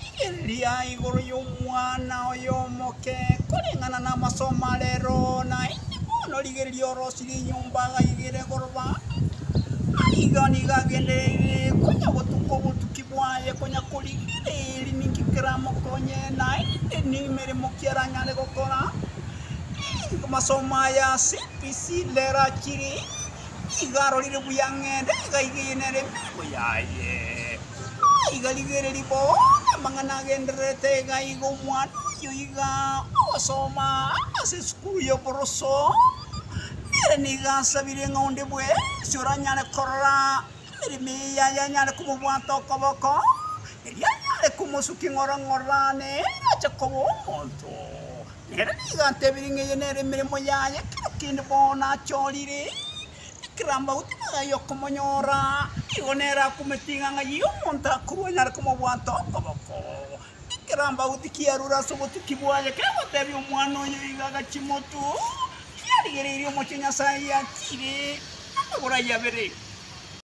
Rigereria igoro y'omwana oye omoke, koreng'ana namasomo are ero, na inde bono rigereria orosirie enyomba agaigere goroba, na igo nigo agendereire konya gotuka obotuki bwaye, konya korigereria ninki keramokonye, na inde nemeremo ki aranyare gokora. Masomo aya CBC rera chire. nigo arorire buya ng'ende iga igeyene ere emeremo yaye, na iga rigereria bo namang'ana agendererete iga iga omwana oyio iga ogosoma ase esukuru y'oboroso, ere nigo asabire ng'a onde bwensi oranyare korora emeremo eye yaye anyare komobwata okoboko, erio anyare komosukia ng'ora ng'ora nere ache koba omonto. Ere nigo atebirie ng'a eye nere emeremo yaye ekero kende bono achorire ekero amauto magaia okomonyora, nigo nere akumete ing'a ng'ai ya omonto akorwa anyare komobwata okoboko. Ekero amauti kiarure ase obotuki bwaye kegotebia omwana oyo iga agachie motu, kiarigereirie omochie Nyasaye ayatiire, amagoro ayio abere.